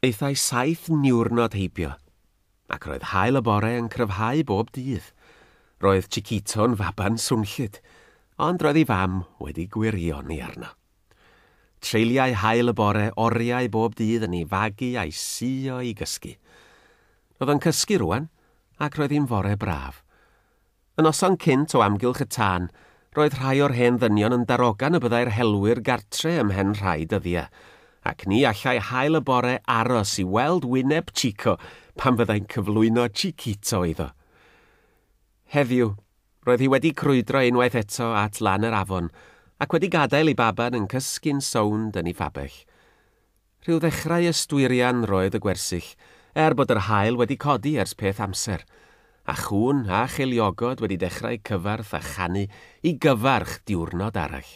Aethai saith niwrnod heibio, ac roedd haul y bore yn cryfhau bob dydd. Roedd Chiquito'n faban swnllyd, ond roedd ei fam wedi gwirioni arno. Treuliai haul y bore oriau bob dydd yn ei fagu a'i suo i gysgu. Roedd o'n cysgu rŵan, ac roedd hi'n fore braf. Y noson cynt o amgylch y tân, roedd rhai o'r hen ddynion yn darogan y byddai'r helwyr gartre ymhen rhai dyddiau, ac ni allai hael y bore aros i weld wyneb Chico pan fyddai'n cyflwyno Chiquito iddo. Heddiw, roedd hi wedi crwydro unwaith eto at lan yr afon, ac wedi gadael ei baban yn cysgu'n sownd yn ei fabell. Rhyw ddechrau ysdwirian roedd y gwersyll, er bod yr haul wedi codi ers peth amser, a chŵn a cheiliogod wedi dechrau cyfarth a chanu i gyfarch diwrnod arall.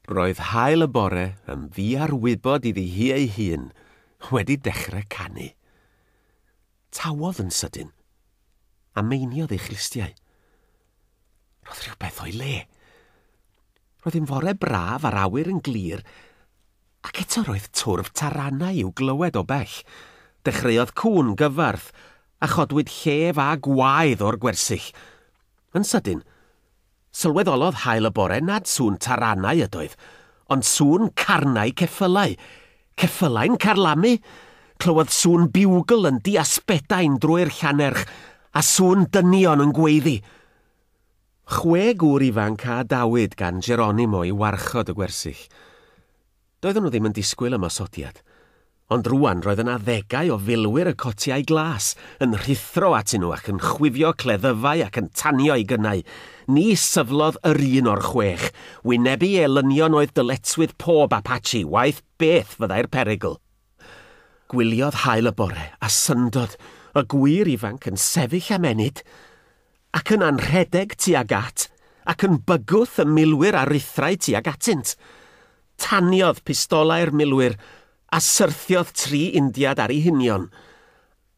Roedd haul y bore, yn ddiarwybod iddi hi ei hun, wedi dechrau canu. Tawodd yn sydyn, a meiniodd ei chlustiau. Roedd rhywbeth o'i le. Roedd hi'n fore braf a'r awyr yn glir, ac eto roedd twrf taranau i'w glywed o bell. Dechreuodd cŵn gyfarth, a chodwyd llef a gwaed o'r gwersyll. Yn sydyn, sylweddolodd haul y bore nad sŵn taranau ydoedd, ond sŵn carnau ceffylau. Ceffylau'n carlamu! Clywodd sŵn biwgl yn diasbedain drwy'r llanerch, a sŵn dynion yn gweiddi. Chwe gŵr ifanc a adawyd gan Geronimo i warchod y gwersyll. Doedden nhw ddim yn disgwyl ymosodiad. Ond rŵan roedd yna ddegau o filwyr y cotiau glas yn rhuthro atyn nhw ac yn chwifio cleddyfau ac yn tanio i gynnau, Ni syflodd yr un o'r chwech wynebu elynion oedd dyletswydd pob Apache, waeth beth fyddai'r perygl. Gwyliodd haul y bore, a syndod, y gŵyr ifanc yn sefyll am ennyd, ac yn anrhedeg tuag at, ac yn bygwth y milwyr a ruthrau tuag atynt. Taniodd pistolau'r milwyr, a syrthiodd tri Indiad ar eu hunion.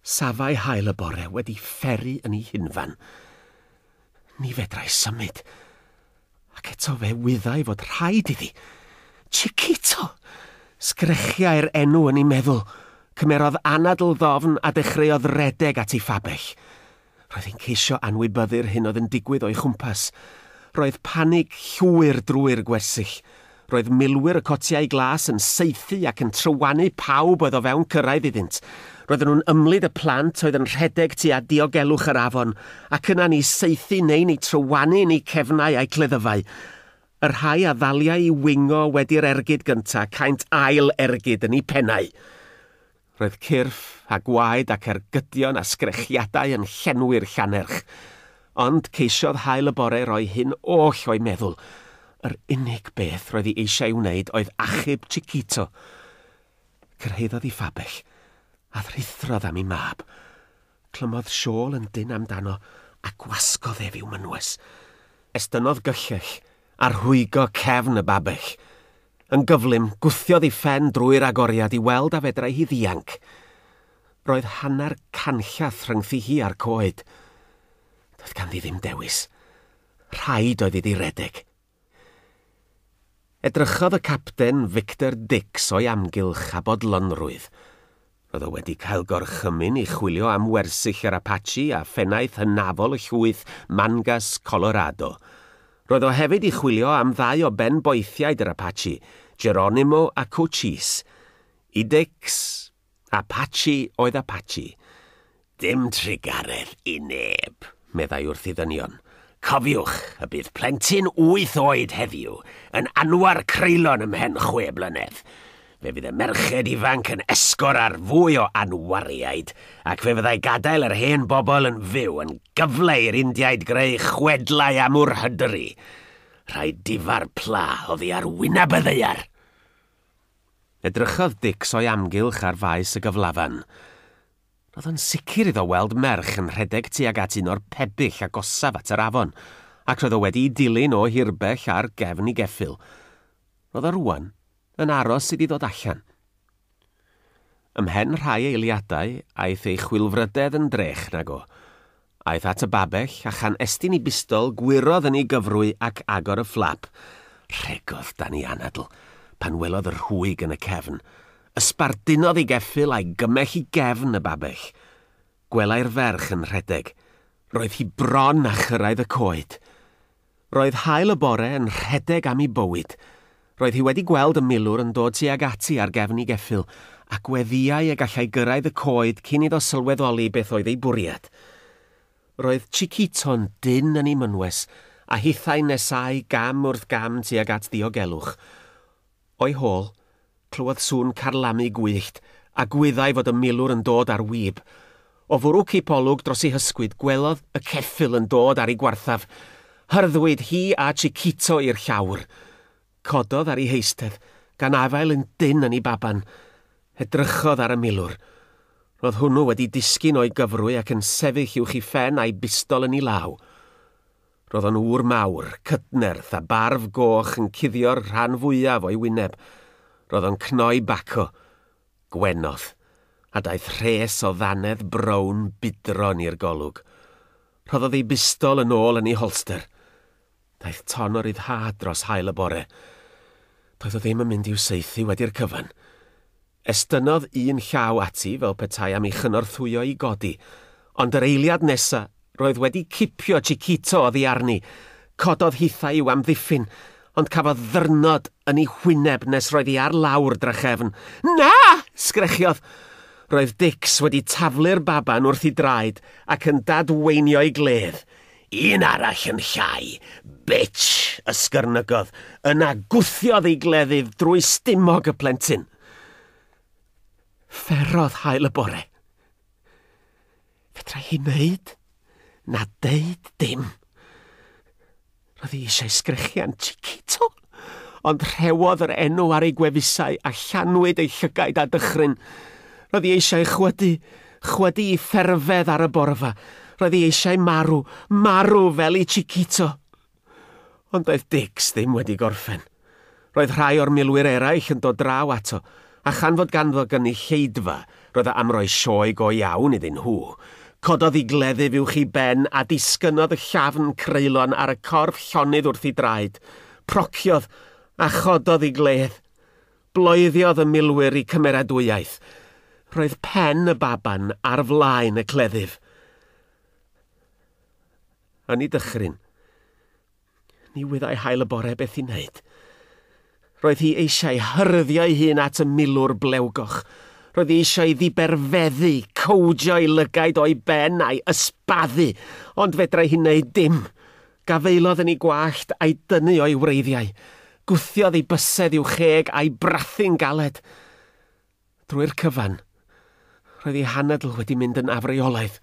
Safai haul y bore wedi pheri yn ei hunfan. Ni fedrai symud. Ac eto fe wyddai fod rhaid iddi. Chiquito! Sgrechiai'r enw yn ei meddwl. Cymerodd anadl ddofn a dechreuodd redeg at ei phabell. Roedd hi'n ceisio anwybyddu'r hyn oedd yn digwydd o'i chwmpas. Roedd panig llwyr drwy'r gwersyll. Roedd milwyr y cotiau glas yn saethu ac yn trywanu pawb oedd o fewn cyrraedd iddynt. Roedden nhw'n ymlid y plant oedd yn rhedeg tua diogelwch yr afon, ac yna'n eu saethu neu'n eu trywanu yn eu cefnau a'u cleddyfau. Y rhai a ddaliai i wingo wedi'r ergyd gyntaf caent ail ergyd yn eu pennau. Roedd cyrff a gwaed ac ergydion a sgrechiadau yn llenwi'r llannerch. Ond ceisiodd haul y bore roi hyn oll o'i meddwl. Yr unig beth roedd hi eisiau'i wneud oedd achub Chiquito. Cyrhaeddodd i Fabell, a thrithrodd am ei mab. Clymodd siôl yn dynn amdano a gwasgodd ef i'w mynwes. Estynnodd gyllell a rhwygo cefn y babell. Yn gyflym, gwthiodd ei phen drwy'r agoriad i weld a fedrai hi ddianc. Roedd hanner canllath rhyngthi hi a'r coed. Doedd ganddi ddim dewis. Rhaid oedd iddi redeg. Edrychodd y Capten Victor Dix o'i amgylch a bodlonrwydd. Roedd o wedi cael gorchymyn i chwilio am wersyll yr Apache a phennaeth hynafol y llwyth Mangas Colorado. Roedd o hefyd i chwilio am ddau o ben-boethiaid yr Apache, Geronimo a Cochise. I Dix, Apache oedd Apache. Dim trugaredd i neb, meddai wrth i ddynion. Cofiwch y bydd plentyn wyth oed heddiw yn anwar creulon ymhen chwe blynedd. Fe fydd y merched ifanc yn esgor ar fwy o anwariaid ac fe fyddai gadael yr hen bobl yn fyw yn gyfle i'r Indiaid greu chwedlau am Ur Hydri. Rhaid difa'r pla oddi ar wyneb y ddaear! Edrychodd Dicks o'i amgylch ar faes y gyflafan. Roedd o'n sicr iddo weld merch yn rhedeg tuag at un o'r pebyll agosaf at yr afon, ac roedd o wedi'i dilyn o hirbell ar gefn ei geffyl. Roedd o rŵan yn aros iddi ddod allan. Ymhen rhai eiliadau, aeth ei chwilfrydedd yn drech nag o. Aeth at y babell, a chan estyn i bistol, gwyrodd yn ei gyfrwy ac agor y fflap. Rhegodd dan ei anadl pan welodd y rhwyg yn y cefn. Ysbardunodd ei geffyl a'i gymell i gefn y babell. Gwelai'r ferch yn rhedeg. Roedd hi bron â chyrraedd y coed. Roedd haul y bore yn rhedeg am i bywyd. Roedd hi wedi gweld y milwr yn dod tuag ati ar gefn i geffyl, a gweddiai y gallai gyrraedd y coed cyn iddo sylweddoli beth oedd ei bwriad. Roedd Chiquito'n dynn yn ei mynwes, a hithau'n nesáu gam wrth gam tuag at ddiogelwch. O'i hôl, clywodd sŵn carlamu gwyllt, a gwyddai fod y milwr yn dod ar wib. O fwrw cipolwg dros ei hysgwyd, gwelodd y ceffyl yn dod ar ei gwarthaf. Hyrddwyd hi a Chiquito i'r llawr. Cododd ar ei heistedd, gan afael yn dynn yn ei baban. Edrychodd ar y milwr. Roedd hwnnw wedi disgyn o'i gyfrwy ac yn sefyll uwch ei phen a'i bistol yn ei law. Roedd o'n ŵr mawr, cydnerth a barf goch yn cuddio'r rhan fwyaf o'i wyneb. Roedd o'n cnoi baco. Gwenodd. A daeth rhes o ddannedd brown budron i'r golwg. Rhoddodd ei bistol yn ôl yn ei holster. Daeth ton o ryddhad dros haul y bore. Doedd o ddim yn mynd i'w saethu wedi'r cyfan. Estynnodd un llaw ati fel petai am ei chynorthwyo i godi, ond yr eiliad nesa, roedd wedi cipio Chiquito oddi arni. Cododd hithau i'w amddiffyn, ond cafodd ddyrnod yn ei hwyneb nes roedd hi ar lawr drachefn. Na! sgrechiodd. Roedd Dicks wedi taflu'r baban wrth ei draed ac yn dadweinio'i gledd. Un arall yn llai, bitch! ysgyrnygodd, yna gwthiodd ei gleddyf drwy stumog y plentyn. Fferodd hael y bore. Fedrai hi wneud na deud dim. Roedd hi eisiau sgrechian Chiquito. Ond rhewodd yr enw ar ei gwefusau a llanwyd ei llygaid â dychryn. Roedd hi eisiau chwydu, chwydu i fferfedd ar y borfa. Roedd hi eisiau marw, marw fel i Chiquito. Ond doedd Dix ddim wedi gorffen. Roedd rhai o'r milwyr eraill yn dod draw ato, a chan fod ganddo gynulleidfa, Roedd e am roi sioe go iawn iddyn nhw. Cododd i gleddyf uwch i ben a disgynnodd y llafn creulon ar y corff llonydd wrth i draed. Prociodd a chododd i gledd. Bloeddiodd y milwyr i cymeradwyaeth. Roedd pen y baban ar flaen y cleddyf. Yn ei dychryn, Ni wyddai hael y bore beth i wneud. Roedd hi eisiau hyryddio ei hun at y milwr blewgoch. Roedd hi eisiau i ddiberfeddu, cowdio ei lygaid o'i ben a'i ysbaddu, ond fedrai hi wneud dim. Gafaelodd yn ei gwallt a'i dynnu o'i wreiddiau. Gwthiodd ei bysedd i'w cheg a'i brathu'n galed. Drwy'r cyfan, roedd ei hanadl wedi mynd yn afreolaidd.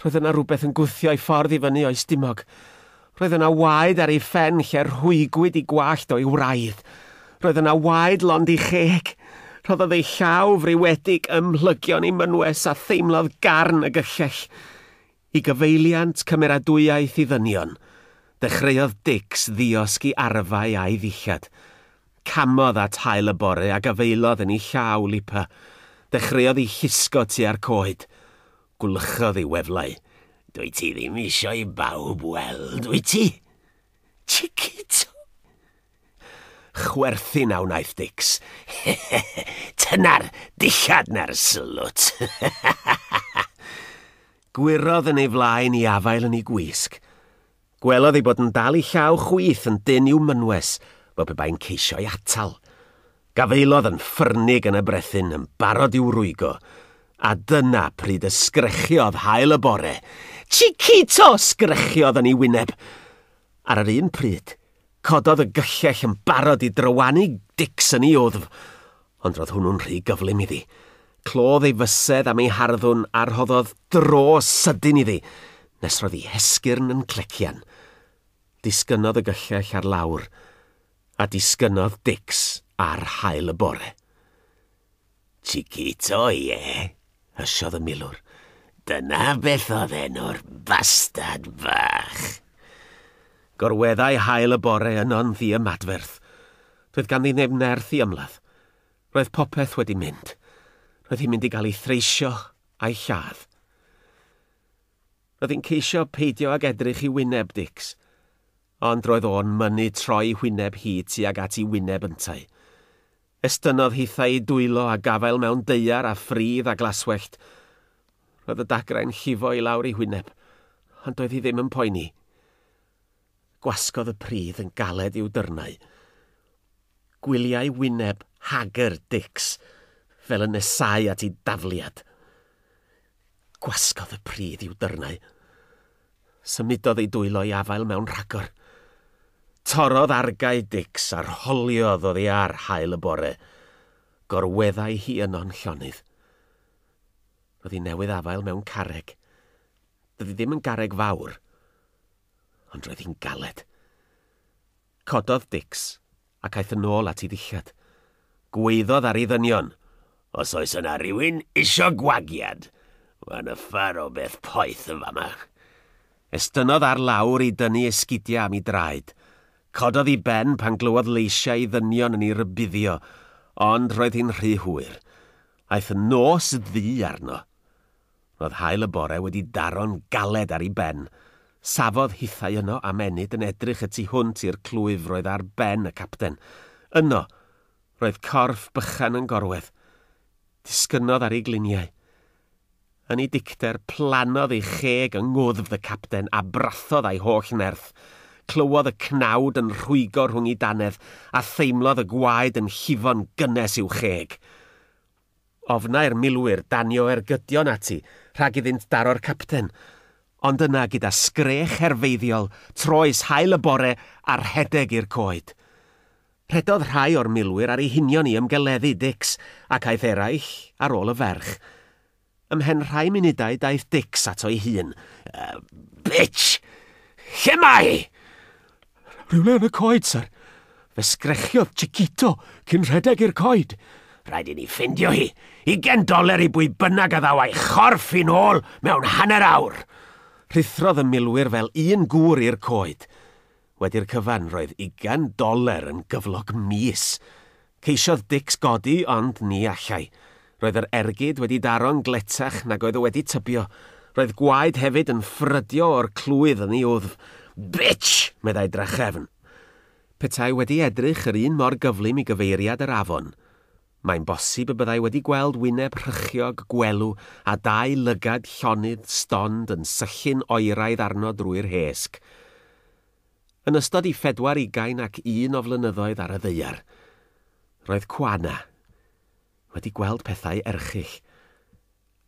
Roedd yna rywbeth yn gwthio ei ffordd i fyny o'i stumog. Roedd yna waed ar ei phen lle rhwygwyd i gwallt o'i wraidd. Roedd yna waed lond i cheg. Rhoddodd ei llaw friwedig ym mhlygion ei mynwes a theimlodd garn y gyllell. I gyfeiliant cymeradwyaeth i ddynion, dechreuodd Dicks ddiosg i arfau a'i ddillad. Camodd at haul y bore a gafaelodd yn ei llaw, Lipa. Dechreuodd i llusgo tua'r coed. Gwlychodd ei weflau. Dwyt ti ddim isio i bawb weld, wyt ti? Chiquito! Chwerthin a wnaeth Dix. Tyna'r dillad na'r slwt! Gwyrodd yn ei flaen i afael yn ei gwisg. Gwelodd ei bod yn dal ei llaw chwith yn dynn i'w mynwes, fel pe bai'n ceisio ei atal. Gafaelodd yn ffyrnig yn y brethyn, yn barod i'w rwygo. A dyna pryd y sgrechiodd haul y bore. Chiquito! sgrechiodd yn ei wyneb. Ar yr un pryd, Cododd y gyllell yn barod i drywanu Dicsen i wddf, ond roedd hwnnw'n rhy gyflym iddi. Clodd ei fysedd am ei harddwn a rhoddodd dro sydyn iddi, nes roedd ei hesgyrn yn clecian. Disgynnodd y gyllell ar lawr, a disgynnodd Dics ar haul y bore. Chiquito, ie, yeah, hysiodd y milwr. Dyna beth oedd enw'r bastad fach. Gorweddai hael y bore yno'n ddi ymadferth. Doedd ganddi neb nerth i ymladd. Roedd popeth wedi mynd. Roedd hi'n mynd i gael ei threisio a'i lladd. Roedd hi'n ceisio peidio ag edrych i wyneb Dix. Ond roedd o'n mynnu troi hwyneb hi tuag at i wyneb yntau. Estynnodd hithau'i dwylo a gafael mewn daear a phridd a glaswellt. Roedd y dagrau'n llifo i lawr ei hwyneb, ond doedd hi ddim yn poeni. Gwasgodd y pridd yn galed i'w dyrnau. Gwyliai wyneb hagr Dicks fel yn nesáu at ei dafliad. Gwasgodd y pridd i'w dyrnau. Symudodd ei dwylo i afael mewn rhagor. Torrodd argae Dix a rholiodd oddi ar haul y bore. Gorweddai hi yno'n llonydd. Roedd hi newydd afael mewn carreg. Doedd hi ddim yn garreg fawr, ond roedd hi'n galed. Cododd Dicks, ac aeth yn ôl at ei ddillad. Gwaeddodd ar ei ddynion. Os oes yna rywun isio gwagiad, mae nyffar o beth poeth yn fama. Estynnodd ar lawr i dynnu esgidiau am ei draed. Cododd ei ben pan glywodd leisiau ei ddynion yn ei rybuddio, ond roedd hi'n rhy hwyr. Aeth nos ddu arno. Roedd haul y bore wedi daro'n galed ar ei ben. Safodd hithau yno am ennyd yn edrych y tu hwnt i'r clwyf roedd ar ben y capten. Yno, roedd corff bychan yn gorwedd. Disgynnodd ar ei gliniau. Yn ei dicter, plannodd ei cheg yng ngwddf y capten a brathodd â'i holl nerth. Clywodd y cnawd yn rhwygo rhwng ei danedd a theimlodd y gwaed yn llifo'n gynnes i'w cheg. Ofnai'r milwyr danio ergydion ati rhag iddynt daro'r capten, ond yna gyda sgrech herfeiddiol troes haul y bore a rhedeg i'r coed. Rhedodd rhai o'r milwyr ar eu hunion i ymgeleddu Dix ac aeth eraill ar ôl y ferch. Ymhen rhai munudau daeth Dicks ato'i hun. Uh, bitch! Lle mae hi? Rhywle yn y coed, sir. Fe sgrechiodd Chiquito cyn rhedeg i'r coed. Rhaid i ni ffindio hi. Ugen doler i bwy bynnag a ddaw a'i chorff i'n ôl mewn hanner awr. Rhuthrodd y milwyr fel un gŵr i'r coed. Wedi'r cyfan, roedd ugain doler yn gyflog mis! Ceisiodd Dicks godi, ond ni allai. Roedd yr ergyd wedi daro'n gletach nag oedd o wedi tybio. Roedd gwaed hefyd yn ffrydio o'r clwydd yn ei wddf. Bitch! meddai drachefn. Petai wedi edrych yr un mor gyflym i gyfeiriad yr afon. Mae'n bosib y byddai wedi gweld wyneb rhychiog gwelw a dau lygad llonydd stond yn syllu'n oeraidd arno drwy'r hesg. Yn ystod i phedwar ugain ac un o flynyddoedd ar y ddaear, roedd Kuana wedi gweld pethau erchyll,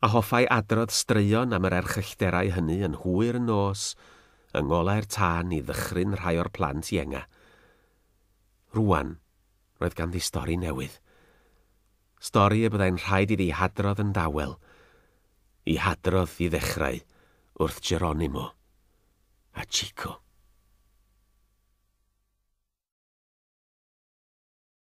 a hoffai adrodd straeon am yr erchyllterau hynny yn hwyr yn nos yng ngolau'r tân i ddychryn rhai o'r plant ienga. Rŵan, Roedd ganddi stori newydd. Stori y byddai'n rhaid iddi hadrodd yn dawel. I hadrodd, i ddechrau, wrth Geronimo. A Chico.